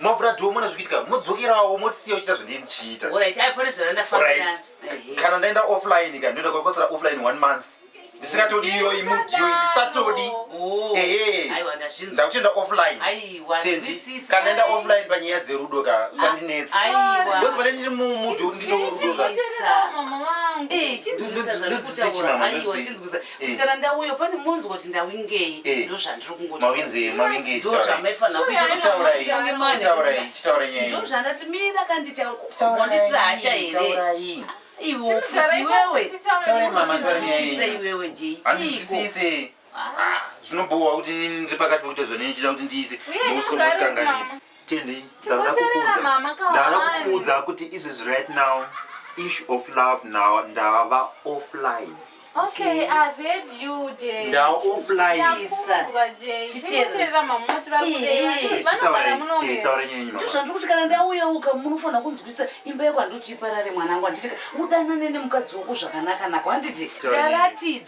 mavhura dhoo mona zvikuitika modzokerawo motisiya uchiita zvandindichiita kana ndaenda offline ka ndoenda kwakosera offline one month ndisingatodi iyoyi mudio ndisatodi oh. ehe ndakutenda offline tendi kana enda offline panyaya dzerudo ka sandinetsi ndozi pane ndiri mumudio ndinorudo ka ndodzisechimama ndodzisei kuti kana ndauya pane munzwa kuti ndawingei eh. ndozvandiri kungotiauraiitaurai mira kanditauranditira hasha here iwe ufuti iwewe iwewe jeichiiko zvinobowa kuti ndiri pakati pekuita zvanenichida kuti ndiite nouswa kuti kanganisa Tindi, ndakakudza kuti izvezvi right now issue of love now ndava offline Okay, I've heard you, Jay. Now offline. Sakunzwa, Jay. Chikuterera mamuti vakudei. Vanogara muno here? Taura nyenyi mama. Tuzvandu kuti kana ndauya uka munofanira kunzwisa imba yako handoti iparare mwanangu handiti udanane nemukadzi wako zvakanaka nako handiti. Ndaratidzwa.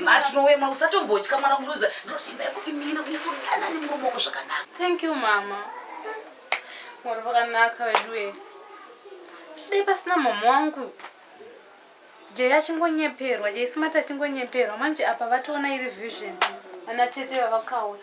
matinowema usatombotya mwana kuruza ndosimba yekuimira kunyatsodanana nemurume wako zvakanaka thank you mama mwari vakanaka veduwe chidai pasina mama wangu jei achingonyeperwa jei simati achingonyeperwa manje apa vatoona iri vision ana tete vavakauya